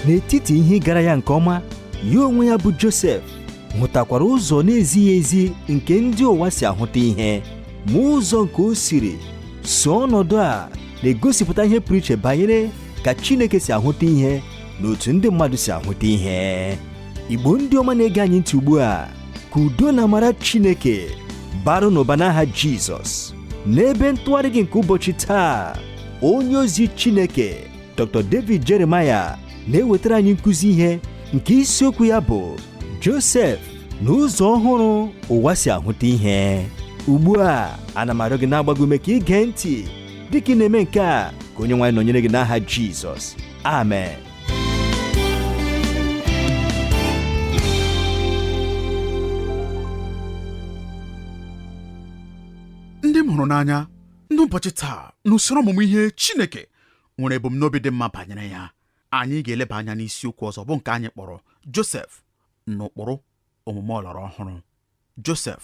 n'etiti ihe ịgara ya nke ọma ya onwe ya bụ Josef hụtakwara ụzọ na-ezighị ezi nke ndị ụwa si ahụta ihe ma ụzọ nke o siri so ọnọdụ a na-egosipụta ihe pụrụ iche banyere ka Chineke si ahụta ihe na otu ndị mmadụ si ahụta ihe Igbo ndị ọma na-ege anyị ntị ugbu a ka udo na amara Chineke baara unu ụba n'aha Jizọs n'ebe ntụgharị gị nke ụbọchị taa onye ozi Chineke Dr. David Jeremiah na-ewetara anyị nkụzi ihe nke isiokwu ya bụ Josef na ụzọ ọhụrụ ụwa si ahụta ihe ugbu a ana m arịọ gị na-agba gị ume ka i gee ntị dịka ị na-eme nke a ka Onyenwe anyị nọnyere gị n'aha Jizọs amen ndị m hụrụ n'anya n'ụbọchị taa n'usoro ọmụmụ ihe Chineke nwere ebumnobi dị mma banyere ya anyị ga-eleba anya n'isiokwu ọzọ bụ nke anyị kpọrọ Josef na ụkpụrụ omume ọlọrọ ọhụrụ Josef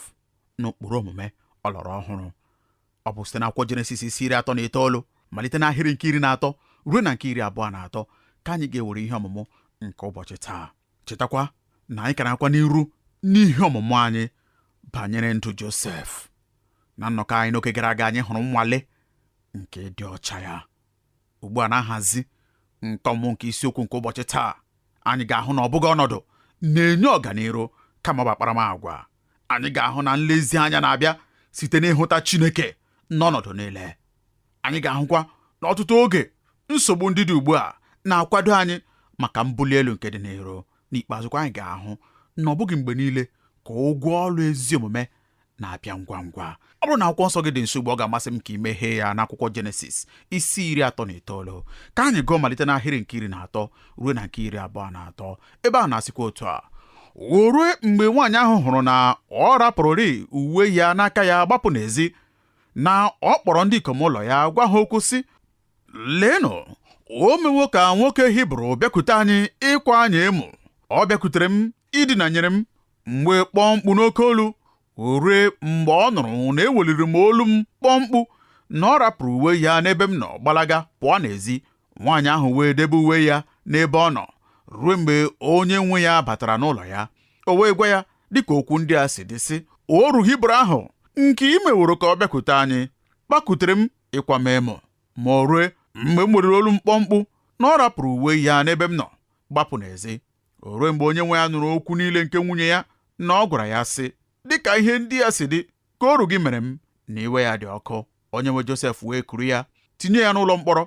na ụkpụrụ omume ọlọrọ ọhụrụ ọ bụ site n'akwụkwọ Jenesis isi iri atọ na itoolu malite n'ahịrị nke iri na atọ ruo na nke iri abụọ na atọ ka anyị ga-ewere ihe ọmụmụ nke ụbọchị taa chetakwa na anyị ka na-agakwa n'iru n'ihe ọmụmụ anyị banyere ndụ Josef na nnọkọ anyị n'oge gara aga anyị hụrụ nnwale nke ịdị ọcha ya ugbu a na-ahazi nke ọmụmụ nke isiokwu nke ụbọchị taa anyị ga-ahụ na ọ bụghị ọnọdụ na-enye ọganiru kama ọ bụ akparamagwa anyị ga-ahụ na nlezianya na-abịa site n'ịhụta Chineke n'ọnọdụ niile Anyị ga-ahụkwa na ọtụtụ oge nsogbu ndị dị ugbu a na-akwado anyị maka mbuli elu nke dị n'iru. N'ikpeazụkwa anyị ga-ahụ na ọ bụghị mgbe niile ka ụgwọ ọrụ ezi omume na-abịa ngwa ngwa. Ọ bụrụ na akwụkwọ nsọ gị dị nso ugbu a ọ ga-amasị m ka i meghee ya n'akwụkwọ Jenesis isi iri atọ na itoolu ka anyị gụọ malite n'ahịrị nke iri na atọ ruo na nke iri abụọ na atọ ebe a na-asịkwa otu a o rue mgbe nwaanyị ahụ hụrụ na ọ rapụrụrị uwe ya n'aka ya gbapụ n'ezi na ọ kpọrọ ndị ikom ụlọ ya gwa ha okwu sị leenụ o mewo ka nwoke Hibru bịakute anyị ịkwa anyị emo ọ bịakutere m idinanyere m m wee kpọọ mkpu n'oke olu o rue mgbe ọ nụrụ na eweliri m olu m kpọọ mkpu na ọ rapụrụ uwe ya n'ebe m nọ gbalaga pụọ n'ezi nwaanyị ahụ wee debe uwe ya n'ebe ọ nọ rue mgbe onye nwe ya batara n'ụlọ ya o wee gwa ya dịka okwu ndị a si dị sị oru Hibru ahụ nke i meworo ka ọ bịakute anyị bakutere m ịkwa m emo ma o rue mgbe m weliri olu m kpọọ mkpu na ọ rapụrụ uwe ya n'ebe m nọ gbapụ n'ezi o rue mgbe onye nwe ya nụrụ okwu niile nke nwunye ya na ọ gwara ya sị dịka ihe ndị a si dị ka oru gị mere m na iwe ya dị ọkụ onye nwe Josef wee kuru ya tinye ya n'ụlọ mkpọrọ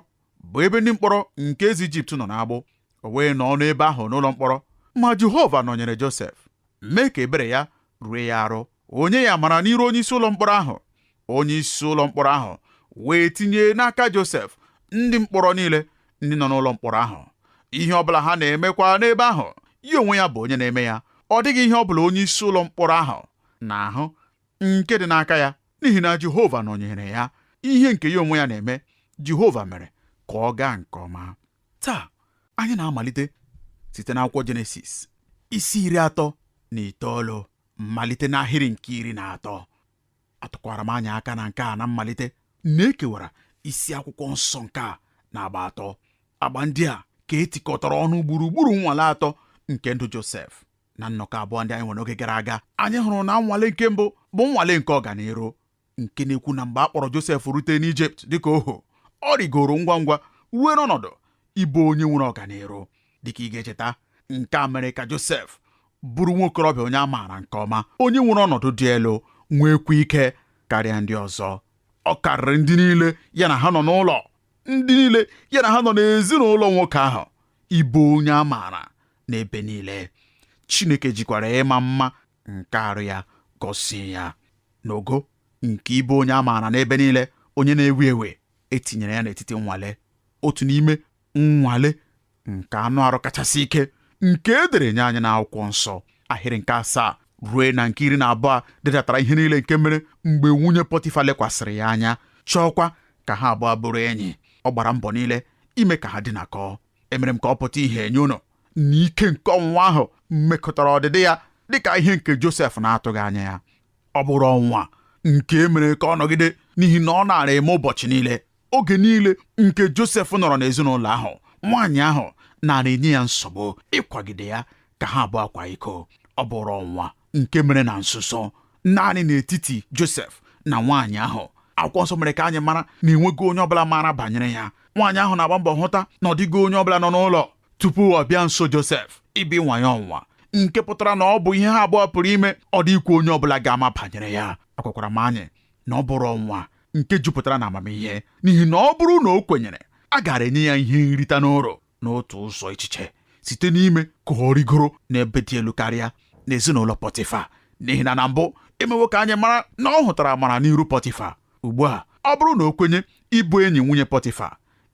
bụ ebe ndị mkpọrọ nke eze Ijipt nọ n'agbụ o wee nọọ n'ebe ahụ n'ụlọ mkpọrọ ma Jehova nọnyere Josef mee ka ebere ya rue ya arụ o nye ya amara n'iru onye isi ụlọ mkpọrọ ahụ onye isi ụlọ mkpọrọ ahụ wee tinye n'aka Josef ndị mkpọrọ niile ndị nọ n'ụlọ mkpọrọ ahụ ihe ọ bụla ha na-emekwa n'ebe ahụ ya onwe ya bụ onye na-eme ya ọ dịghị ihe ọ bụla onye isi ụlọ mkpọrọ ahụ na-ahụ nke dị n'aka ya n'ihi na Jehova nọnyere ya ihe nke ya onwe ya na-eme Jehova mere ka ọ gaa nke ọma taa anyị na-amalite site n'akwụkwọ Jenesis isi iri atọ na itoolu malite n'ahịrị nke iri na atọ atụkwara m anyị aka na nke a na mmalite na e kewara isi akwụkwọ nsọ nke a na agba atọ agba ndị a ka e tikọtara ọnụ gburugburu nnwale atọ nke ndụ Josef na nnọkọ abụọ ndị anyị nwere oge gara aga anyị hụrụ na nnwale nke mbụ bụ nnwale nke ọganiru nke na-ekwu na mgbe a kpọrọ Josef rute n'Ijipt dịka ohu ọ rigoro ngwa ngwa ruo n'ọnọdụ ịbụ onye nwere ọganiru dịka ị ga-echeta nke a mere ka Josef bụrụ nwa okorobịa onye a maara nke ọma onye nwere ọnọdụ dị elu nweekwa ike karịa ndị ọzọ ọ karịrị ndị niile ya na ha nọ n'ụlọ ndị niile ya na ha nọ n'ezinụlọ nwoke ahụ ịbụ onye a maara n'ebe niile Chineke jikwara ịma mma nke arụ ya gọzie ya n'ogo nke ịbụ onye a maara n'ebe niile onye na-ewu ewu e tinyere ya n'etiti nnwale otu n'ime nnwale nke anụ arụ kachasị ike nke e dere nye anyị n'akwụkwọ nsọ ahịrị nke asaa ruo na nke iri na abụọ dedatara ihe niile nke mere mgbe nwunye Pọtifa lekwasịrị ya anya chọọkwa ka ha abụọ bụrụ enyi ọ gbara mbọ niile ime ka ha dinakọọ emere m ka ọ pụta ihe nye unu na ike nke ọnwụnwa ahụ mekọtara ọdịdị ya dịka ihe nke Josef na-atụghị anya ya ọ bụrụ ọnwụnwa nke e mere ka ọ nọgide n'ihi na ọ naara eme ụbọchị niile oge niile nke Josef nọrọ n'ezinụlọ ahụ nwaanyị ahụ naara enye ya nsogbu ịkwagide ya ka ha abụọ kwaa iko ọ bụrụ ọnwụnwa nke mere na nzuzo naanị n'etiti Josef na nwaanyị ahụ akwụkwọ nsọ mere ka anyị mara na enweghị onye ọbụla maara banyere ya nwaanyị ahụ na-agba mbọ hụta na ọ dịghị onye ọbụla nọ n'ụlọ tupu ọ bịa nso Josef ịbịa ịnwa ya ọnwụnwa nke pụtara na ọ bụ ihe ha abụọ pụrụ ime ọ dịghịkwa onye ọbụla ga-ama banyere ya agwakwara m anyị na ọ bụrụ ọnwụnwa nke jupụtara na amamihe n'ihi na ọ bụrụ na o kwenyere a gaara enye ya ihe nrita n'uru n'otu ụzọ echiche site n'ime ka ọ rịgoro n'ebe dị elu karịa n'ezinụlọ Pọtịfa n'ihi na na mbụ emewo ka anyị mara na ọ hụtara amara n'iru Pọtịfa ugbu a ọ bụrụ na o kwenye ịbụ enyi nwunye Pọtịfa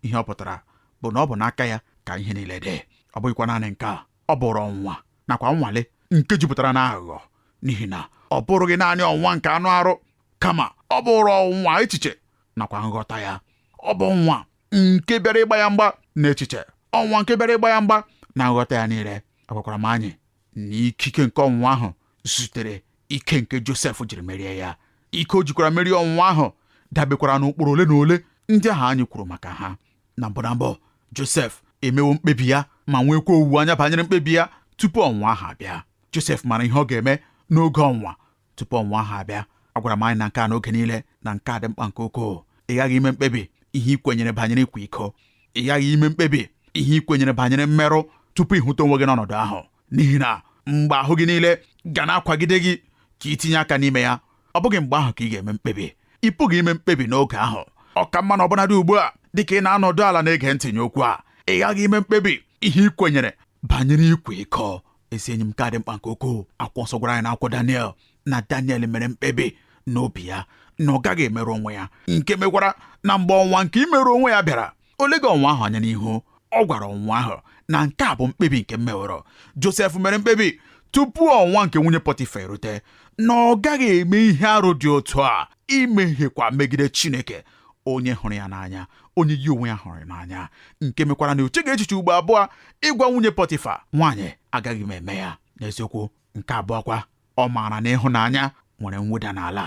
ihe ọ pụtara bụ na ọ bụ n'aka ya ka ihe niile dị ọ bụghịkwa naanị nke a ọ bụrụ ọnwụnwa nakwa nnwale nke jupụtara n'aghụghọ n'ihi na ọ bụrụghị naanị ọnwụnwa nke anụ arụ kama ọ bụrụ ọnwụnwa echiche nakwa nghọta ya ọ bụ ọnwụnwa nke bịara ịgba ya mgba n'echiche ọnwụnwa nke bịara ịgba ya mgba na nghọta ya niile agwakwara m anyị na ikike nke ọnwụnwa ahụ zutere ike nke Josef jiri merie ya ike o jikwara merie ọnwụnwa ahụ dabekwara n'ụkpụrụ ole na ole ndị ahụ anyị kwuru maka ha na mbụ na mbụ Josef emewo mkpebi ya ma nwekwa owuwe anya banyere mkpebi ya tupu ọnwụnwa ahụ abịa Josef mara ihe ọ ga-eme n'oge ọnwụnwa tupu ọnwụnwa ahụ abịa agwara m anyị na nke a n'oge niile na nke a dị mkpa nke ukwuu ị ghaghị ime mkpebi ihe ị kwenyere banyere ịkwa iko ị ghaghị ime mkpebi ihe ị kwenyere banyere mmerụ tupu ị hụta onwe gị n'ọnọdụ ahụ n'ihi na mgbe ahụ gị niile ga na-akwagide gị ka i tinye aka n'ime ya ọ bụghị mgbe ahụ ka ị ga-eme mkpebi ị pụghị ime mkpebi n'oge ahụ ọ ka mma na ọbụnadị ugbu a dịka ị na-anọdụ ala na-ege ntị nye okwu a ị ghaghị ime mkpebi ihe ị kwenyere banyere ịkwa iko ezi enyi m nke a dị mkpa nke ukwuu akwụkwọ nsọ gwara anyị n'akwụkwọ Daniel na Daniel mere mkpebi n'obi ya na ọ gaghị emerụ onwe ya nke mekwara na mgbe ọnwụnwa nke imerụ onwe ya bịara o leghị ọnwụnwa ahụ anya n'ihu ọ gwara ọnwụnwa ahụ na nke a bụ mkpebi nke m meworo Josef mere mkpebi tupu ọnwụnwa nke nwunye Pọtifa erute na ọ gaghị eme ihe arụ dị otu a imehiekwa megide Chineke onye hụrụ ya n'anya onye ya onwe ya hụrụ n'anya nke mekwara na o cheghị echiche ugbo abụọ ịgwa nwunye pọtịfa nwaanyị agaghị m eme ya n'eziokwu nke abụọ kwa ọ maara na ịhụnanya nwere mweda n'ala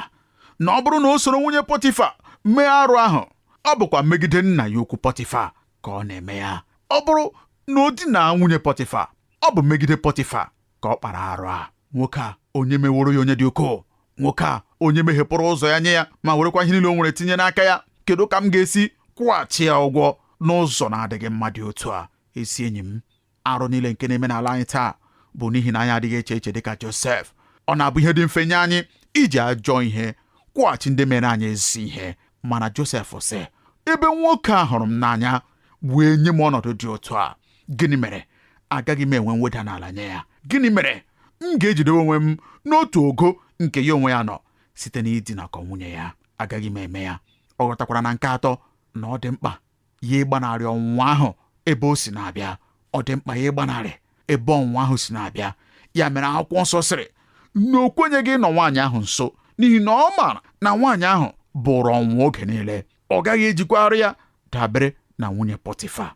na ọ bụrụ na o soro nwunye pọtịfa mee arụ ahụ ọ bụkwa megide nna ya ukwu pọtịfa ka ọ na-eme ya ọ bụrụ na o dina nwunye pọtịfa ọ bụ megide pọtịfa ka ọ kpara arụ a nwoke a onye meworo ya onye dị ukwuu nwoke a onye meghepụrụ ụzọ ya nye ya ma werekwa ihe niile o nwere tinye n'aka ya kedu ka m ga-esi kwụghachi ya ụgwọ n'ụzọ na-adịghị mma dị otu a ezi enyi m arụ niile nke na-eme n'ala anyị taa bụ n'ihi na anyị adịghị eche eche dịka Josef ọ na-abụ ihe dị mfe nye anyị iji ajọ ihe kwụghachi ndị mere anyị ezi ihe mana Josef sị ebe nwoke a hụrụ m n'anya wee nye m ọnọdụ dị otu a gịnị mere agaghị m enwe mweda n'ala nye ya gịnị mere m ga-eji dewe onwe m n'otu ogo nke ya onwe ya nọ site n'idinakọ nwunye ya agaghị m eme ya ọ ghọtakwara na nke atọ na ọ dị mkpa ya ịgbanarị ọnwụnwa ahụ ebe o si na-abịa ọ dị mkpa ya ịgbanarị ebe ọnwụnwa ahụ si na-abịa ya mere akwụkwọ nsọ sịrị na o kwenyeghị ịnọ nwaanyị ahụ nso n'ihi na ọ maara na nwaanyị ahụ bụrụ ọnwụnwa oge niile ọ gaghị ejikwa arụ ya dabere na nwunye pọtịfa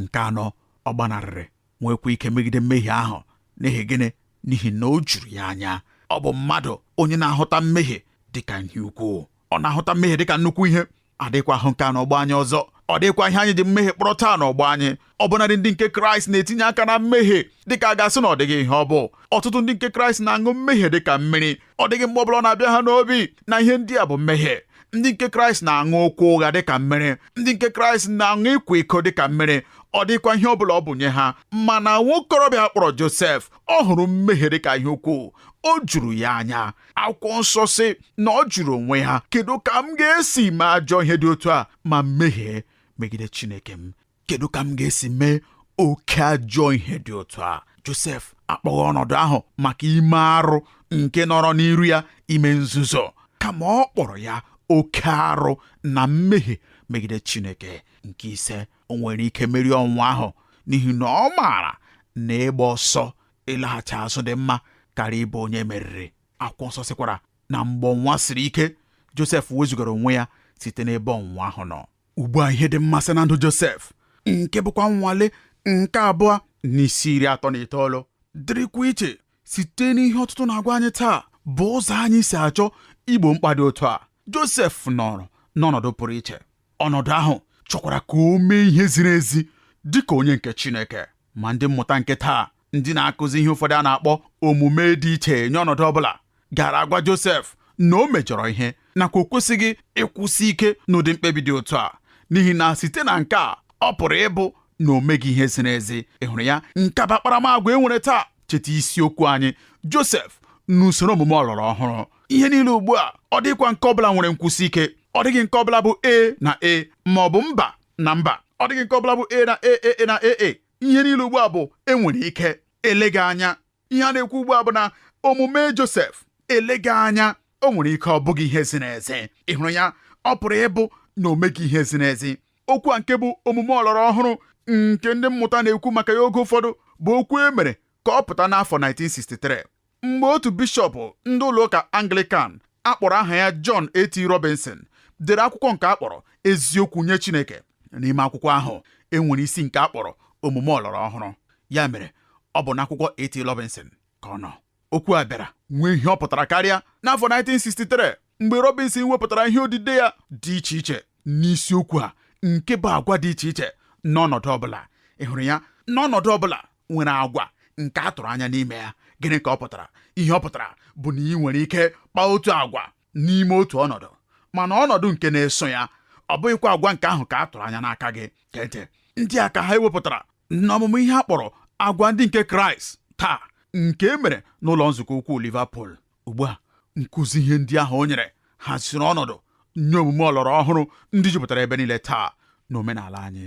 nke anọ ọ gbanarịrị nwekwa ike megide mmehie ahụ n'ihi gịnị n'ihi na o juru ya anya ọ bụ mmadụ onye na-ahụta mmehie dịka ihe ukwuu ọ na-ahụta mmehie dịka nnukwu ihe adịghịkwa ahụ nke a n'ọgbọ anyị ọzọ ọ dịghịkwa ihe anyị ji mmehie kpọrọ taa n'ọgbọ anyị ọ bụnadị ndị nke kraịst na-etinye aka na mmehie dịka a ga-asị na ọ dịghị ihe ọ bụ ọtụtụ ndị nke kraịst na-aṅụ mmehie dịka mmiri ọ dịghị mgbe ọbụla ọ na-abịa ha n'obi na ihe ndị a bụ mmehie ndị nke kraịst na-aṅụ okwu ụgha dịka mmiri ndị nke kraịst na-aṅụ ịkwa iko dịka mmiri ọ dịghịkwa ihe ọbụla ọ bụ nye ha mana nwokorobịa a kpọrọ josef ọ hụrụ mmehie dịka ihe ukwuu o juru ya anya akwụkwọ nsọ sị na ọ jụrụ onwe ya kedu ka m ga-esi mee ajọ ihe dị otu a ma mehie megide chineke m kedu ka m ga-esi mee oke ajọ ihe dị otu a Josef akpọghị ọnọdụ ahụ maka ime arụ nke nọrọ n'iru ya ime nzuzo kama ọ kpọrọ ya oke arụ na mmehie megide Chineke nke ise o nwere ike merie ọnwụnwa ahụ n'ihi na ọ maara na ịgba ọsọ ịlaghachi azụ dị mma karịa ịbụ onye e meriri akwụkwọ nsọ sịkwara na mgbe ọnwụnwa siri ike Josef wezụgara onwe ya site n'ebe ọnwụnwa ahụ nọ ugbu a ihe dị mmasị na ndụ Josef nke bụkwa nnwale nke abụọ n'isi iri atọ na itoolu dịrịkwa iche site n'ihe ọtụtụ na-agwa anyị taa bụ ụzọ anyị si achọ igbo mkpa dị otu a Josef nọrọ n'ọnọdụ pụrụ iche ọnọdụ ahụ chọkwara ka o mee ihe ziri ezi dị ka onye nke Chineke ma ndị mmụta nke taa ndị na-akụzi ihe ụfọdụ a na-akpọ omume dị iche nye ọnọdụ ọ bụla gaara agwa Josef na o mejọrọ ihe nakwa o kwesịghị ịkwụsị ike n'ụdị mkpebi dị otu a n'ihi na site na nke a ọ pụrụ ịbụ na o meghị ihe ziri ezi ị hụrụ ya nke a bụ akparamagwa e nwere taa cheta isiokwu anyị Josef n'usoro omume ọlọrọ ọhụrụ ihe niile ugbu a ọ dịghịkwa nke ọbụla nwere nkwụsị ike ọ dịghị nke ọbụla bụ ee na ee ma ọ bụ mba na mba ọ dịghị nke ọbụla bụ ee na ee na ee. ihe niile ugbu a bụ e nwere ike eleghị anya ihe a na-ekwu ugbu a bụ na omume Josef eleghị anya o nwere ike ọ bụghị ihe ziri ezi ị hụrụ ya ọ pụrụ ịbụ na o meghị ihe ziri ezi okwu a nke bụ omume ọlọrọ ọhụrụ nke ndị mmụta na-ekwu maka ya oge ụfọdụ bụ okwu e mere ka ọ pụta n'afọ 1963 mgbe otu bishọp ndị ụlọụka Anglikan a kpọrọ aha ya John A.T. Robinson dere akwụkwọ nke a kpọrọ eziokwu nye Chineke n'ime akwụkwọ ahụ e nwere isi nke a kpọrọ omume ọlọrọ ọhụrụ ya mere ọ bụ n'akwụkwọ A.T. Robinson ka ọ nọ okwu a bịara nwee ihe ọ pụtara karịa n'afọ 1963 mgbe Robinson wepụtara ihe odide ya dị iche iche n'isiokwu a nke bụ agwa dị iche iche n'ọnọdụ ọbụla ị hụrụ ya n'ọnọdụ ọbụla nwere agwa nke a tụrụ anya n'ime ya gịnị ka ọ pụtara ihe ọ pụtara bụ na ị nwere ike kpaa otu agwa n'ime otu ọnọdụ mana ọnọdụ nke na-eso ya ọ bụghịkwa agwa nke ahụ ka a tụrụ anya n'aka gị kente ndị a ka ha ewepụtara n'ọmụmụ ihe a kpọrọ agwa ndị nke kraịst taa nke e mere n'ụlọ nzukọ ukwu Liverpool ugbu a nkụzi ihe ndị ahụ o nyere haziri ọnọdụ nye omume ọlọrọ ọhụrụ ndị jupụtara ebe niile taa n'omenala anyị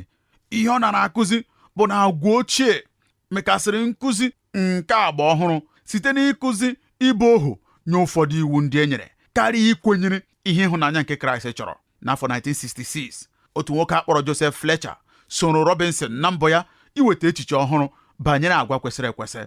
ihe ọ nara akụzi bụ na agwa ochie mekasịrị nkụzi nke agba ọhụrụ site n'ịkụzi ịbụ ohu nye ụfọdụ iwu ndị e nyere karịa ikwenyere ihe ịhụnanya nke kraịst chọrọ n'afọ 1966 otu nwoke a kpọrọ joseph fletcher soro robinson na mbọ ya iweta echiche ọhụrụ banyere agwa kwesịrị ekwesị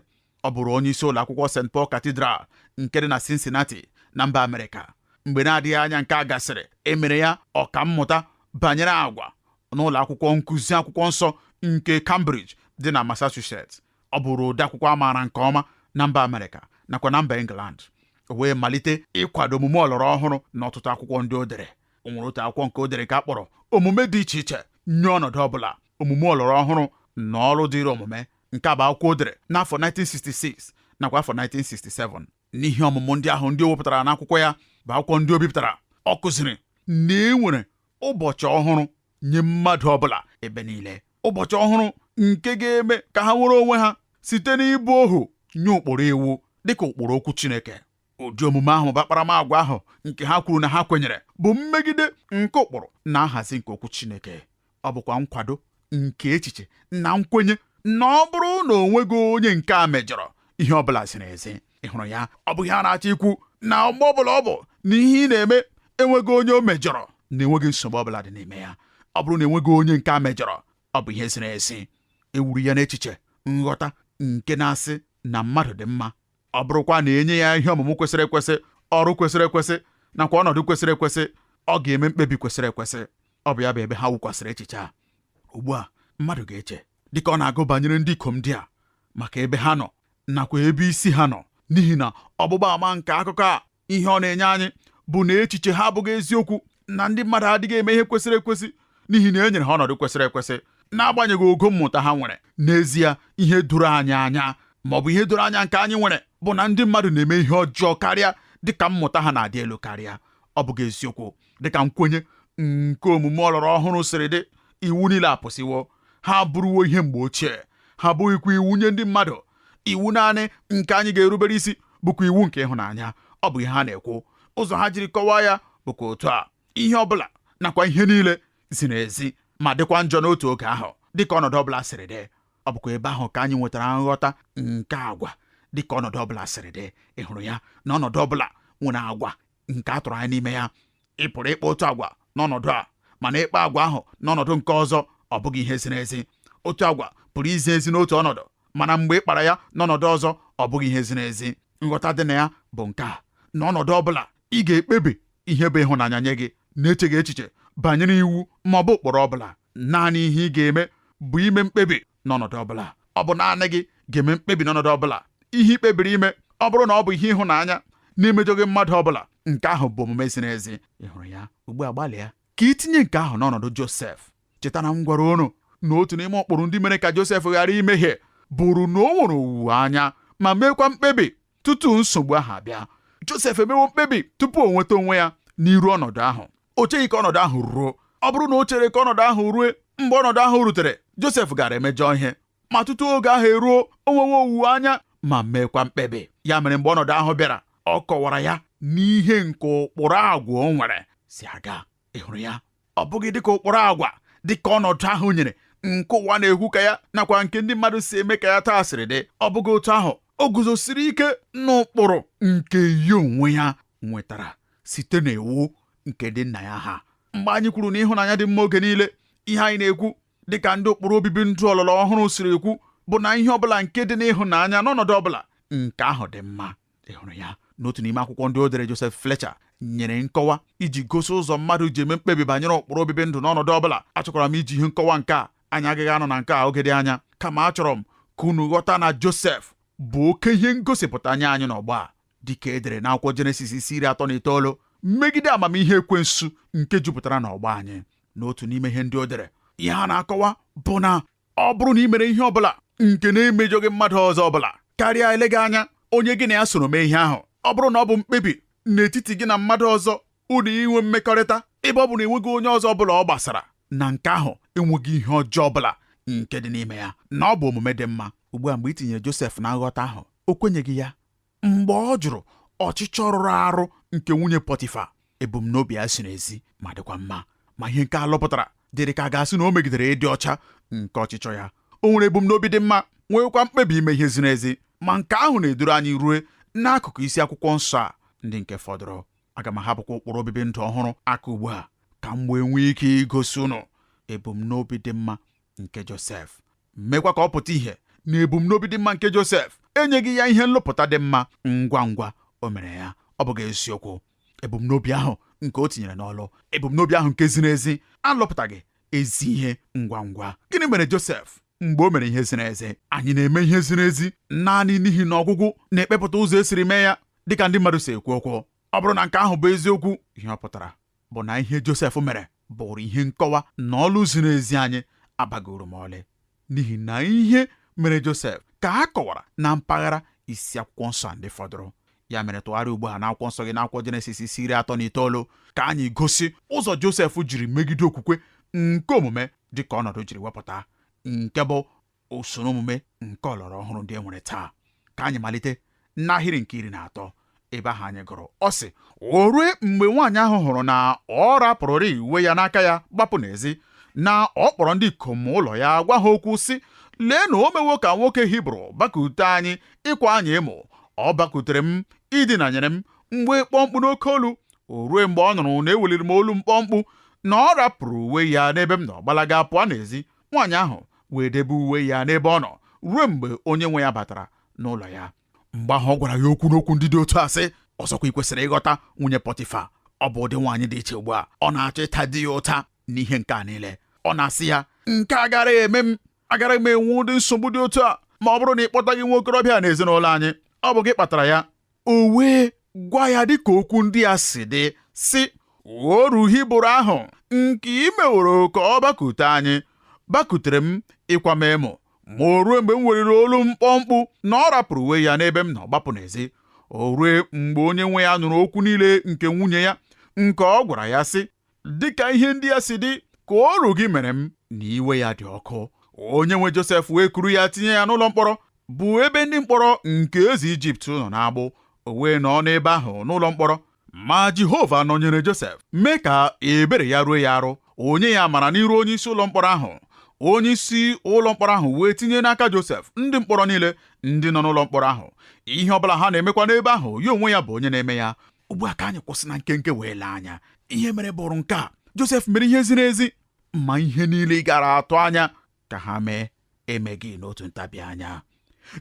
ọ bụrụ onye isi ụlọ akwụkwọ St Paul Cathedral nke dị na Cincinnati na mba Amerịka mgbe na-adịghị anya nke a gasịrị e mere ya ọka mmụta banyere agwa n'ụlọ akwụkwọ nkụzi akwụkwọ nsọ nke Cambridge dị na Massachusetts ọ bụrụ odeakwụkwọ a maara nke ọma na mba Amerịka nakwa na mba England o wee malite ịkwado omume ọlọrọ ọhụrụ na ọtụtụ akwụkwọ ndị o dere o nwere otu akwụkwọ nke o dere nke a kpọrọ omume dị iche iche nye ọnọdụ ọ bụla omume ọlọrọ ọhụrụ na ọrụ dịrị omume nke a bụ akwụkwọ o dere n'afọ 1966 nakwa afọ 1967 n'ihe ọmụmụ ndị ahụ ndị o wepụtara n'akwụkwọ ya bụ akwụkwọ ndị o bipụtara ọ kụziri na e nwere ụbọchị ọhụrụ nye mmadụ ọbụla ebe niile ụbọchị ọhụrụ nke ga-eme ka ha nwere onwe ha site n'ịbụ ohu nye ụkpụrụ iwu dịka ụkpụrụ okwu Chineke Ụdị omume ahụ ma ọ bụ akparamagwa ahụ nke ha kwuru na ha kwenyere bụ mmegide nke ụkpụrụ na nhazi nke okwu Chineke. Ọ bụkwa nkwado nke echiche na nkwenye na ọ bụrụ na o nweghị onye nke a mejọrọ ihe ọ bụla ziri ezi. Ị hụrụ ya? Ọ bụ ihe a na-achọ ikwu na mgbe ọ bụla ọ bụ na ihe ị na-eme enweghị onye o mejọrọ na enweghị nsogbu ọ bụla dị n'ime ya. Ọ bụrụ na enweghị onye nke a mejọrọ, ọ bụ ihe ziri ezi. E wuru ya n'echiche nghọta nke na-asị na mmadụ dị mma ọ bụrụkwa na e nye ya ihe ọmụmụ kwesịrị ekwesị ọrụ kwesịrị ekwesị nakwa ọnọdụ kwesịrị ekwesị ọ ga-eme mkpebi kwesịrị ekwesị ọ bụ ya bụ ebe ha wukwasịrị echiche a ugbu a mmadụ ga-eche dịka ọ na-agụ banyere ndị ikom ndị a maka ebe ha nọ nakwa ebe isi ha nọ n'ihi na ọgbụgba ama nke akụkọ a ihe ọ na-enye anyị bụ na echiche ha abụghị eziokwu na ndị mmadụ adịghị eme ihe kwesịrị ekwesị n'ihi na e nyere ha ọnọdụ kwesịrị ekwesị n'agbanyeghị ogo mmụta ha nwere n'ezie ihe doro anyị anya ma ọ bụ ihe doro anya nke anyị nwere bụ na ndị mmadụ na-eme ihe ọjọọ karịa dịka mmụta ha na-adị elu karịa ọ bụghị eziokwu dịka nkwenye nke omume ọlọrọ ọhụrụ siri dị iwu niile apụsịwo ha abụrụwo ihe mgbe ochie ha abụghịkwa iwu nye ndị mmadụ iwu naanị nke anyị ga-erubere isi bụkwa iwu nke ịhụnanya ọ bụ ihe ha na-ekwu ụzọ ha jiri kọwaa ya bụkwa otu a ihe ọ bụla nakwa ihe niile ziri ezi ma dịkwa njọ n'otu oge ahụ dịka ọnọdụ ọbụla siri dị ọ bụkwa ebe ahụ ka anyị nwetara nghọta nke agwa dịka ọnọdụ ọbụla siri dị ị hụrụ ya na ọnọdụ ọbụla nwere agwa nke a tụrụ anya n'ime ya ị pụrụ ịkpa otu agwa n'ọnọdụ a mana ịkpa agwa ahụ n'ọnọdụ nke ọzọ ọ bụghị ihe ziri ezi otu agwa pụrụ izi ezi n'otu ọnọdụ mana mgbe ị kpara ya n'ọnọdụ ọzọ ọ bụghị ihe ziri ezi nghọta dị na ya bụ nke a n'ọnọdụ ọ bụla ị ga-ekpebi ihe bụ ịhụnanya nye gị na-echeghị echiche banyere iwu ma ọ bụ ụkpụrụ ọ bụla naanị ihe ị ga-eme bụ ime mkpebi n'ọnọdụ ọ bụla. Ọ bụ naanị gị ga-eme mkpebi n'ọnọdụ ọ bụla. Ihe i kpebiri ime, ọ bụrụ na ọ bụ ihe ịhụnanya na-emejọghị mmadụ ọ bụla, nke ahụ bụ omume ziri ezi. Ị hụrụ ya? Ugbu a gbalịa ka i tinye nke ahụ n'ọnọdụ Josef. Cheta na m gwara unu na otu n'ime ụkpụrụ ndị mere ka Josef ghara imehie bụrụ na o nwere owuwe anya ma meekwa mkpebi tutu nsogbu ahụ abịa Josef emewo mkpebi tupu o nweta onwe ya n'iru ọnọdụ ahụ o cheghị ka ọnọdụ ahụ ruo ọ bụrụ na o chere ka ọnọdụ ahụ rue mgbe ọnọdụ ahụ rutere Josef gaara emejọ ihe ma tutu oge ahụ eruo o nwewo owuwe anya ma meekwa mkpebi ya mere mgbe ọnọdụ ahụ bịara ọ kọwara ya n'ihe nke ụkpụrụ agwa o nwere si aga ị hụrụ ya ọ bụghị dịka ụkpụrụ agwa dịka ọnọdụ ahụ nyere nke ụwa na-ekwu ka ya nakwa nke ndị mmadụ si eme ka ya taa siri dị ọ bụghị otu ahụ o guzosiri ike n'ụkpụrụ nke ya onwe ya nwetara site n'iwu nke ndị nna ya ha mgbe anyị kwuru na ịhụnanya dị mma oge niile ihe anyị na-ekwu dịka ndị ụkpụrụ obibi ndụ ọlọrọ ọhụrụ siri ekwu bụ na ihe ọbụla nke dị n'ịhụnanya n'ọnọdụ ọbụla nke ahụ dị mma ị hụrụ ya n'otu n'ime akwụkwọ ndị o dere Joseph Fletcher nyere nkọwa iji gosi ụzọ mmadụ ji eme mkpebi banyere ụkpụrụ obibi ndụ n'ọnọdụ ọ bụla achọkwara m iji ihe nkọwa nke a anyị agaghị anọ na nke a oge dị anya kama achọrọ m ka unu ghọta na Josef bụ oke ihe ngosipụta nye anyị n'ọgbọ a dịka e dere n'akwụkwọ Jenesis isi iri atọ na itoolu megide amamihe ekwensu nke jupụtara n'ọgbọ anyị n'otu n'ime ihe ndị o dere ihe a na-akọwa bụ na ọ bụrụ na i mere ihe ọbụla nke na-emejọghị mmadụ ọzọ ọbụla karịa eleghị anya onye gị na ya soro mee ihe ahụ ọ bụrụ na ọ bụ mkpebi n'etiti gị na mmadụ ọzọ unu inwe mmekọrịta ebe ọ bụ na enweghị onye ọzọ ọbụla ọ gbasara na nke ahụ enweghị ihe ọjọọ ọbụla nke dị n'ime ya na ọ bụ omume dị mma ugbu a mgbe i tinyere Josef na nghọta ahụ o kwenyeghị ya mgbe ọ jụrụ ọchịchọ rụrụ arụ nke nwunye Pọtifa ebumnobi ya ziri ezi ma dịkwa mma ma ihe nke a lụpụtara dịrị ka a ga-asị na o megidere ịdị ọcha nke ọchịchọ ya o nwere ebumnobi dị mma nweekwa mkpebi ime ihe ziri ezi ma nke ahụ na-eduru anyị rue n'akụkụ isi akwụkwọ nsọ a ndị nke fọdụrụ aga m ahapụkwa ụkpụrụ obibi ndụ ọhụrụ aka ugbu a ka m wee nwee ike igosi unu ebumnobi dị mma nke Josef meekwa ka ọ pụta ihe na ebumnobi dị mma nke Josef enyeghị ya ihe nlụpụta dị mma ngwa ngwa o mere ya ọ bụghị eziokwu ebumnobi ahụ nke o tinyere n'ọlụ ebumnobi ahụ nke ziri ezi alụpụtaghị ezi ihe ngwa ngwa gịnị mere Josef mgbe o mere ihe ziri ezi anyị na-eme ihe ziri ezi naanị n'ihi na ọgwụgwụ na-ekpepụta ụzọ e siri mee ya dịka ndị mmadụ si ekwu okwu ọ bụrụ na nke ahụ bụ eziokwu ihe ọ pụtara bụ na ihe Josef mere bụụrụ ihe nkọwa na ọlụ ziri ezi anyị abaghị uru ma ọlị n'ihi na ihe mere Josef ka a kọwara na mpaghara isi akwụkwọ nsọ a ndị fọdụrụ ya mere tụgharịa ugbu a n'akwụkwọ nsọ gị n'akwụkwọ Jenesis isi iri atọ na itoolu ka anyị gosi ụzọ Josef jiri megide okwukwe nke omume dị ka ọnọdụ jiri wepụta nke bụ usoro omume nke ọlọrọ ọhụrụ ndị e nwere taa ka anyị malite n'ahịrị nke iri na atọ ebe ahụ anyị gụrụ ọ sị o rue mgbe nwaanyị ahụ hụrụ na ọ rapụrụrị uwe ya n'aka ya gbapụ n'ezi na ọ kpọrọ ndị ikom ụlọ ya gwa ha okwu sị lee na o mewo ka nwoke Hibru bakute anyị ịkwa anyị emo ọ bakutere m idinanyere m m wee kpọọ mkpu n'oke olu o rue mgbe ọ nụrụ na eweliri m olu m kpọọ mkpu na ọ rapụrụ uwe ya n'ebe m nọ gbalaga pụọ n'ezi nwaanyị ahụ wee debe uwe ya n'ebe ọ nọ ruo mgbe onye nwe ya batara n'ụlọ ya mgbe ahụ ọ gwara ya okwu n'okwu ndị dị otu a sị ọzọkwa i kwesịrị ịghọta nwunye Pọtifa ọ bụ ụdị nwaanyị dị iche ugbu a ọ na-achọ ịta di ya ụta n'ihe nke a niile ọ na-asị ya nke a agaraghị eme m agaraghị m enwe ụdị nsogbu dị otu a ma ọ bụrụ na ị kpọtaghị nwa okorobịa n'ezinụlọ anyị ọ bụ gị kpatara ya o wee gwa ya dịka okwu ndị a si dị sị oru Hibru ahụ nke i meworo ka ọ bakute anyị bakutere m ịkwa m emo ma o ruo mgbe m weliri olu m kpọọ mkpu na ọ rapụrụ uwe ya n'ebe m nọ gbapụ n'ezi o rue mgbe onye nwe ya nụrụ okwu niile nke nwunye ya nke ọ gwara ya sị dịka ihe ndị a si dị ka oru gị mere m na iwe ya dị ọkụ onye nwe Josef wee kuru ya tinye ya n'ụlọ mkpọrọ bụ ebe ndị mkpọrọ nke eze Ijipt nọ n'agbụ o wee nọ n'ebe ahụ n'ụlọ mkpọrọ ma Jehova nọnyere Josef mee ka ebere ya ruo ya arụ o nye ya amara n'iru onye isi ụlọ mkpọrọ ahụ onye isi ụlọ mkpọrọ ahụ wee tinye n'aka Josef ndị mkpọrọ niile ndị nọ n'ụlọ mkpọrọ ahụ ihe ọ bụla ha na-emekwa n'ebe ahụ ya onwe ya bụ onye na-eme ya ugbu a ka anyị kwụsị na nkenke wee lee anya ihe mere bụrụ nke a Josef mere ihe ziri ezi ma ihe niile ị gara atụ anya ka ha mee emeghị n'otu ntabi anya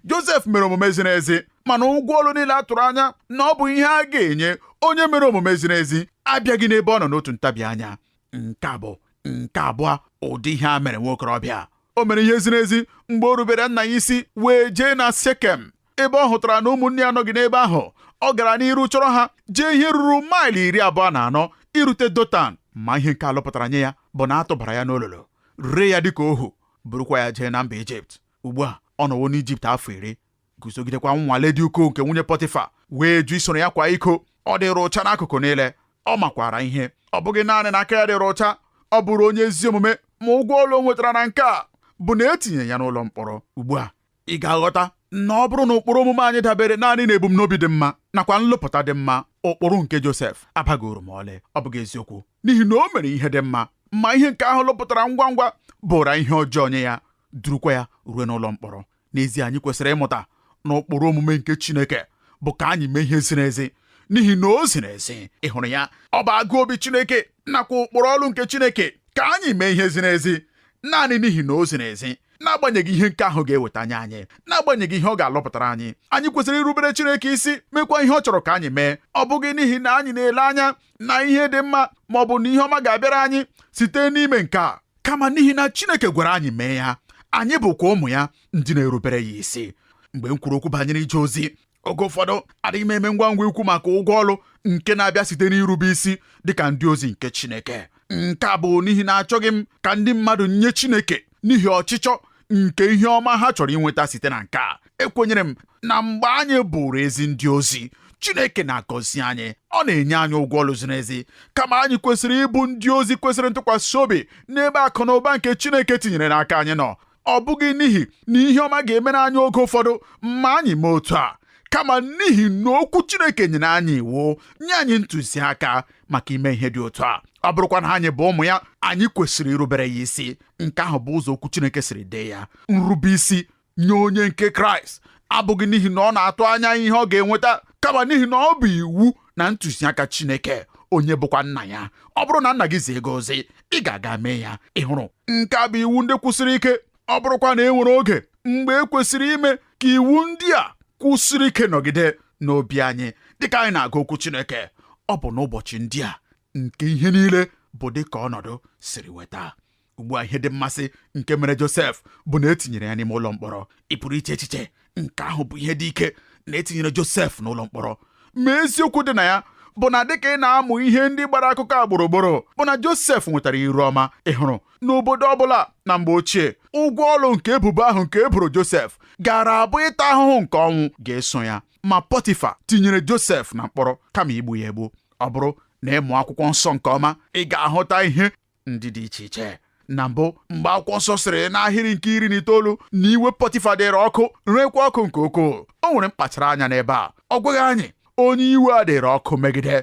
Josef mere omume ziri ezi mana ụgwọ ọlụ niile a tụrụ anya na ọ bụ ihe a ga-enye onye mere omume ziri ezi abịaghị n'ebe ọ nọ n'otu ntabi anya nke abụọ ụdị ihe a mere nwa okorobịa o mere ihe ziri ezi mgbe o rubere nna ya isi wee jee na sekem ebe ọ hụtara na ụmụnne ya nọghị n'ebe ahụ ọ gara n'iru chọrọ ha jee ihe ruru maịlụ iri abụọ na anọ irute dotan ma ihe nke a lụpụtara nye ya bụ na a tụbara ya n'olulu ree ya dịka ohu burukwa ya jee na mba ijipt ugbu a ọ nọwo n'ijipt afọ iri guzogidekwa nnwale dị ukwuu nke nwunye pọtịfa wee jụ isoro ya kwaa iko ọ dịrị ụcha n'akụkụ niile ọ makwara ihe ọ bụghị naanị na aka ya dịrị ụcha ọ bụrụ onye ezi omume ma ụgwọ ọlụ o nwetara na nke a bụ na e tinye ya n'ụlọ mkpọrọ ugbu a ị ga-aghọta na ọ bụrụ na ụkpụrụ omume anyị dabere naanị na ebumnobi dị mma nakwa nlụpụta dị mma ụkpụrụ nke Josef abaghị uru ma ọlị ọ bụghị eziokwu n'ihi na o mere ihe dị mma ma ihe nke ahụ lụpụtara ngwa ngwa bụra ihe ọjọọ nye ya durukwa ya ruo n'ụlọ mkpọrọ n'ezie anyị kwesịrị ịmụta na ụkpụrụ omume nke Chineke bụ ka anyị mee ihe ziri ezi n'ihi na o ziri ezi ị hụrụ ya ọ bụ agụụ obi Chineke nakwa ụkpụrụ ọlụ nke Chineke ka anyị mee ihe ziri ezi naanị n'ihi na o ziri ezi n'agbanyeghị ihe nke ahụ ga-eweta nye anyị n'agbanyeghị ihe ọ ga-alụpụtara anyị anyị kwesịrị irubere Chineke isi mekwa ihe ọ chọrọ ka anyị mee ọ bụghị n'ihi na anyị na-ele anya na ihe dị mma ma ọ bụ na ihe ọma ga-abịara anyị site n'ime nke a kama n'ihi na Chineke gwara anyị mee ya anyị bụkwa ụmụ ya ndị na-erubere ya isi mgbe m kwuru okwu banyere ije ozi oge ụfọdụ adịghị m eme ngwa ngwa ikwu maka ụgwọ ọlụ nke na-abịa site n'irube isi dịka ndị ozi nke Chineke nke a bụ n'ihi na achọghị m ka ndị mmadụ nye Chineke n'ihi ọchịchọ nke ihe ọma ha chọrọ inweta site na nke a ekwenyere m na mgbe anyị bụrụ ezi ndị ozi Chineke na-agọzi anyị ọ na-enye anyị ụgwọ ọlụ ziri ezi kama anyị kwesịrị ịbụ ndị ozi kwesịrị ntụkwasị obi n'ebe akụ na ụba nke Chineke tinyere n'aka anyị nọ ọ bụghị n'ihi na ihe ọma ga-emere anyị oge ụfọdụ ma anyị mee otu a kama n'ihi na okwu Chineke nyere anyị iwu nye anyị ntụziaka maka ime ihe dị otu a ọ bụrụkwa na anyị bụ ụmụ ya anyị kwesịrị irubere ya isi nke ahụ bụ ụzọ okwu Chineke siri dee ya nrube isi nye onye nke Kraịst abụghị n'ihi na ọ na-atụ anya ihe ọ ga-enweta kama n'ihi na ọ bụ iwu na ntụziaka Chineke onye bụkwa nna ya ọ bụrụ na nna gị zie gị ozi ị ga-aga mee ya ị hụrụ nke a bụ iwu ndị kwụsiri ike ọ bụrụkwa na e nwere oge mgbe e kwesịrị ime ka iwu ndị a kwụsiri ike nọgide n'obi anyị dịka anyị na-agụ okwu Chineke ọ bụ n'ụbọchị ndị a nke ihe niile bụ dịka ọnọdụ siri weta ugbu a ihe dị mmasị nke mere Josef bụ na e tinyere ya n'ime ụlọ mkpọrọ ị pụrụ iche echiche nke ahụ bụ ihe dị ike na etinyere Josef n'ụlọ mkpọrọ ma eziokwu dị na ya bụ na dịka ị na-amụ ihe ndị gbara akụkọ a gburugburu bụ na Josef nwetara iru ọma ị hụrụ n'obodo ọbụla na mgbe ochie ụgwọ ọrụ nke ebubo ahụ nke e boro Josef gaara abụ ịta ahụhụ nke ọnwụ ga-eso ya ma Pọtifa tinyere Josef na mkpọrọ kama igbu ya egbu ọ bụrụ na ịmụ akwụkwọ nsọ nke ọma ị ga-ahụta ihe ndị dị iche iche na mbụ mgbe akwụkwọ nsọ sịrị n'ahịrị nke iri na itoolu na iwe pọtifa dịrị ọkụ rekwa ọkụ nke ukwuu o nwere mkpachara anya n'ebe a ọ gwaghị anyị onye iwe a dịrị ọkụ megide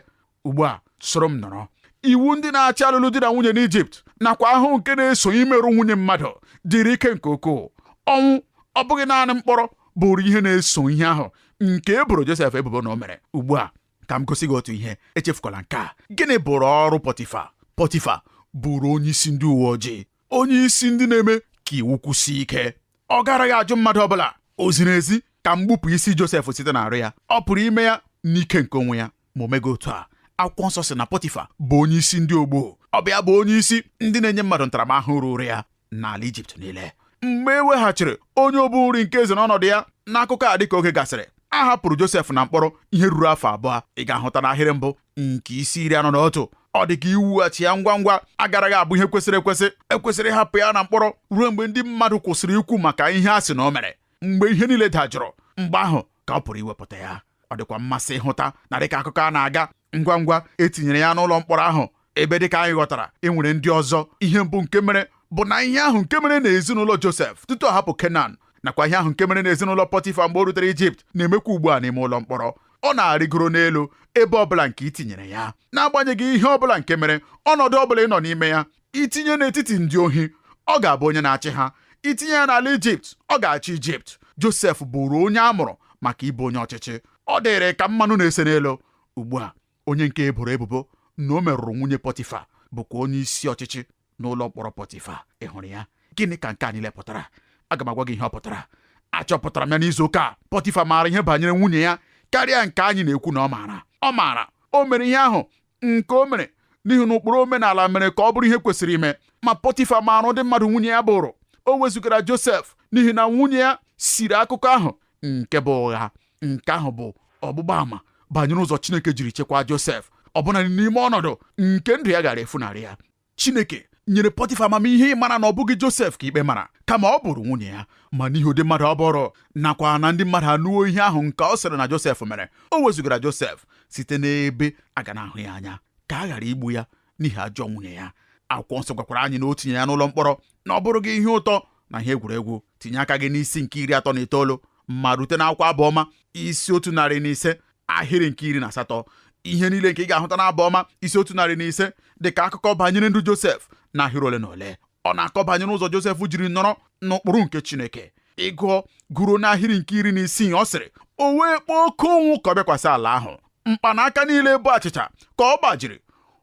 ugbu a soro m nọrọ iwu ndị na-achị alụlụ di na nwunye n'Ijipt nakwa ahụhụ nke na-eso imerụ nwunye mmadụ dịrị ike nke ukwuu ọnwụ ọ bụghị naanị mkpọrọ bụụrụ ihe na-eso ihe ahụ nke e boro Josef ebubo na o mere ugbu a ka m gosi gị otu ihe echefukwala nke a gịnị bụrụ ọrụ pọtifa pọtifa bụrụ onye isi ndị uwe ojii onye isi ndị na-eme ka iwu kwụsie ike ọ garaghị ajụ mmadụ ọbụla o ziri ezi ka m gbupụ isi Josef site n'arụ ya ọ pụrụ ime ya n'ike nke onwe ya ma o meghị otu a akwụkwọ nsọ sị na pọtifa bụ onye isi ndị ogbuu ọ bụ ya bụ onye isi ndị na-enye mmadụ ntaramahụhụ ruru ya n'ala Ijipt niile mgbe e weghachiri onye obu nri nke eze n'ọnọdụ ya n'akụkọ a dịka oge gasịrị a hapụrụ Josef na mkpọrọ ihe ruru afọ abụọ ị ga-ahụta n'ahịrị mbụ nke isi iri anọ na otu ọ dị ka iwughachi ya ngwa ngwa agaraghị abụ ihe kwesịrị ekwesị ekwesịrị ịhapụ ya na mkpọrọ ruo mgbe ndị mmadụ kwụsịrị ikwu maka ihe a sị na o mere mgbe ihe niile dajụrụ mgbe ahụ ka ọ pụrụ iwepụta ya ọ dịkwa mmasị ịhụta na dịka akụkọ a na-aga ngwa ngwa etinyere ya n'ụlọ mkpọrọ ahụ ebe dịka anyị ghọtara e nwere ndị ọzọ ihe mbụ nke mere bụ na ihe ahụ nke mere n'ezinụlọ Josef tutu ọ hapụ Kenan nakwa ihe ahụ nke mere n'ezinụlọ Pọtifa mgbe o rutere Ijipt na-emekwa ugbu a n'ime ụlọ mkpọrọ ọ na-arịgoro n'elu ebe ọbụla nke i tinyere ya n'agbanyeghị ihe ọbụla nke mere ọnọdụ ọbụla ị nọ n'ime ya I tinye n'etiti ndị ohi, ọ ga-abụ onye na-achị ha. I tinye ya n'ala Ijipt, ọ ga-achị Ijipt. Josef bụụrụ onye a mụrụ maka ịbụ onye ọchịchị. Ọ dịrị ka mmanụ na-ese n'elu. Ugbu a, onye nke e boro ebubo na o merụrụ nwunye Pọtifa bụkwa onye isi ọchịchị n'ụlọ mkpọrọ Pọtifa. Ị hụrụ ya? Gịnị ka nke a niile pụtara? Aga m agwa gị ihe ọ pụtara. Achọpụtara m ya n'izu ụka a. Pọtifa maara ihe banyere nwunye ya karịa nke anyị na-ekwu na ọ maara. Ọ maara. O mere ihe ahụ nke o mere n'ihi na ụkpụrụ omenala mere ka ọ bụrụ ihe kwesịrị ime ma pọtifa maara ụdị mmadụ nwunye ya bụụrụ o wezụgara josef n'ihi na nwunye ya siri akụkọ ahụ nke bụ ụgha nke ahụ bụ ọgbụgba ama banyere ụzọ chineke jiri chekwaa josef ọbụna n'ime ọnọdụ nke ndụ ya gaara efunarị ya Chineke nyere Pọtịfa amamihe ịmara na ọ bụghị Josef ka ikpe mara kama ọ bụrụ nwunye ya ma n'ihi ụdị mmadụ ọ bụrụ nakwa na ndị mmadụ anụwo ihe ahụ nke ọ sịrị na Josef mere o wezụgara Josef site n'ebe a ga na-ahụ ya anya ka a ghara igbu ya n'ihi ajọ nwunye ya akwụkwọ nsọ gwakwara anyị na o tinye ya n'ụlọ mkpọrọ na ọ bụrụghị ihe ụtọ na ihe egwuregwu tinye aka gị n'isi nke iri atọ na itoolu ma rute n'akwụkwọ abụ ọma isi otu narị na ise ahịrị nke iri na asatọ ihe niile nke ị ga-ahụta n'abụ ọma isi otu narị na ise dị ka akụkọ banyere ndụ Josef na ahịrị ole na ole ọ na-akọ banyere ụzọ Josef jiri nọrọ n'ụkpụrụ nke Chineke ị gụọ gụruo n'ahịrị nke iri na isii ọ sịrị o wee kpọọ oke ụnwụ ka ọ bịakwasị ala ahụ mkpanaka niile bụ achịcha ka ọ gbajiri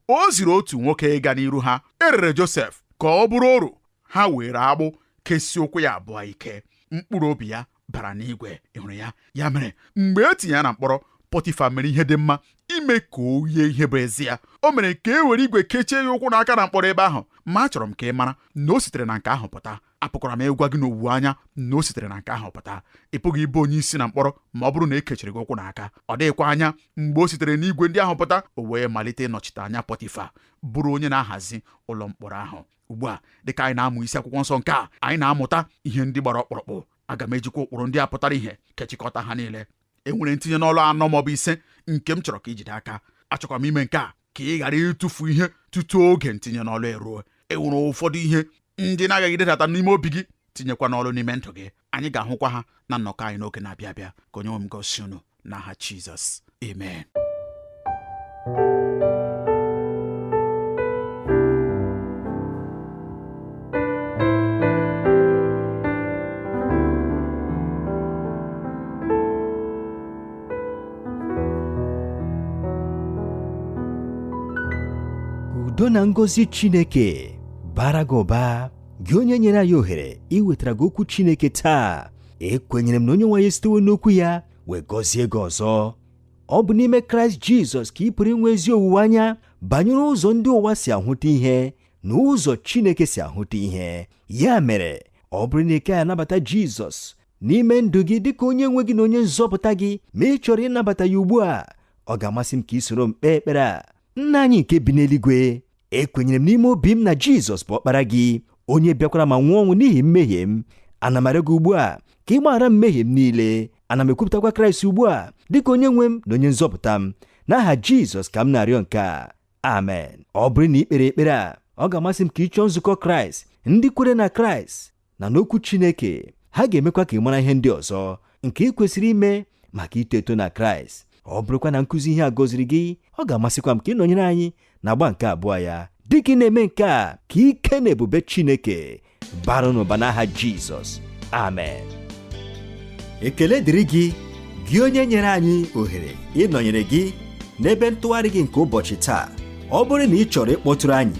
o ziri otu nwoke ịga n'iru ha e rere Josef ka ọ bụrụ oru ha were agbụ kesie ụkwụ ya abụọ ike mkpụrụ obi ya bara n'igwe ị hụrụ ya ya mere mgbe e tinye ya na mkpọrọ pọtifa mere ihe dị mma ime ka o yie ihe bụ ezie o mere ka e were igwe kechie ya ụkwụ na aka na mkpọrọ ebe ahụ ma achọrọ m ka ị mara na o sitere na nke ahụ pụta apụkwara m ịgwa gị n'owuwe anya na o sitere na nke ahụ pụta ị pụghị ịbụ onye isi na mkpọrọ ma ọ bụrụ na e kechiri gị ụkwụ na aka ọ dịghịkwa anya mgbe o sitere n'igwe ndị ahụ pụta o wee malite ịnọchite anya pọtifa bụrụ onye na-ahazi ụlọ mkpọrọ ahụ ugbu a dịka anyị na-amụ isi akwụkwọ nsọ nke a anyị na-amụta ihe ndị gbara ọkpụrụkpụ aga m ejikwa ụkpụrụ ndị a pụtara ihe kechikọta ha niile e nwere ntinye n'ọlụ anọ maọbụ ise nke m chọrọ ka i jide aka achọkwa m ime nke a ka ị ghara ịtụfu ihe tutu oge ntinye n'ọlụ eruo e nwere ụfọdụ ihe ndị ị na-aghaghị idedata n'ime obi gị tinyekwa n'ọlụ n'ime ndụ gị anyị ga-ahụkwa ha na nnọkọ anyị n'oge na-abịa abịa ka onye nwe m gọzie unu n'aha Jizọs amen udo na ngọzi Chineke bara gị ụba gị onye nyere anyị ohere iwetara gị okwu chineke taa ekwenyere m na onye nwe anyị esitewo n'okwu ya wee gọzie gị ọzọ ọ bụ n'ime kraịst jizọs ka ị pụrụ inwe ezi owuwe anya banyere ụzọ ndị ụwa si ahụta ihe na ụzọ chineke si ahụta ihe ya mere ọ bụrụ na ị kaghị anabata jizọs n'ime ndụ gị dịka onye nwe gị na onye nzọpụta gị ma ị chọrọ ịnabata ya ugbu a ọ ga-amasị m ka i soro m kpee ekpere a nna anyị nke bi n'eluigwe ekwenyere m n'ime obi m na jizọs bụ ọkpara gị onye bịakwara ma nwụọ ọnwụ n'ihi mmehie m ana m arịọ gị ugbu a ka ị gbaghara m mmehie m niile ana m ekwupụtakwa kraịst ugbu a dịka onye nwe m na onye nzọpụta m n'aha jizọs ka m na-arịọ nke a amen ọ bụrụ na i kpere ekpere a ọ ga-amasị m ka ị chọọ nzukọ kraịst ndị kwere na kraịst na n'okwu Chineke ha ga-emekwa ka ị mara ihe ndị ọzọ nke i kwesịrị ime maka ito eto na Kraịst ọ bụrụkwa na nkụzi ihe a gọziri gị ọ ga-amasịkwa m ka ị nọnyere anyị n'agba nke abụọ ya dị ka ị na-eme nke a ka ike na ebube Chineke bara n'ụba n'aha Jizọs amen ekele dịrị gị gị onye nyere anyị ohere ịnọnyere gị n'ebe ntụgharị gị nke ụbọchị taa ọ bụrụ na ị chọrọ ịkpọtụrụ anyị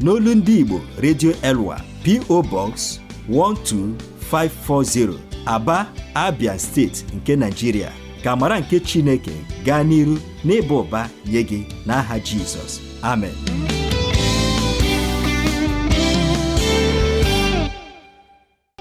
n'olu ndị Igbo Radio Elwa PO Box 12540 Aba Abia steeti nke Nigeria ka amara nke Chineke gaa n'iru n'ịba ụba nye gị n'aha Jizọs amen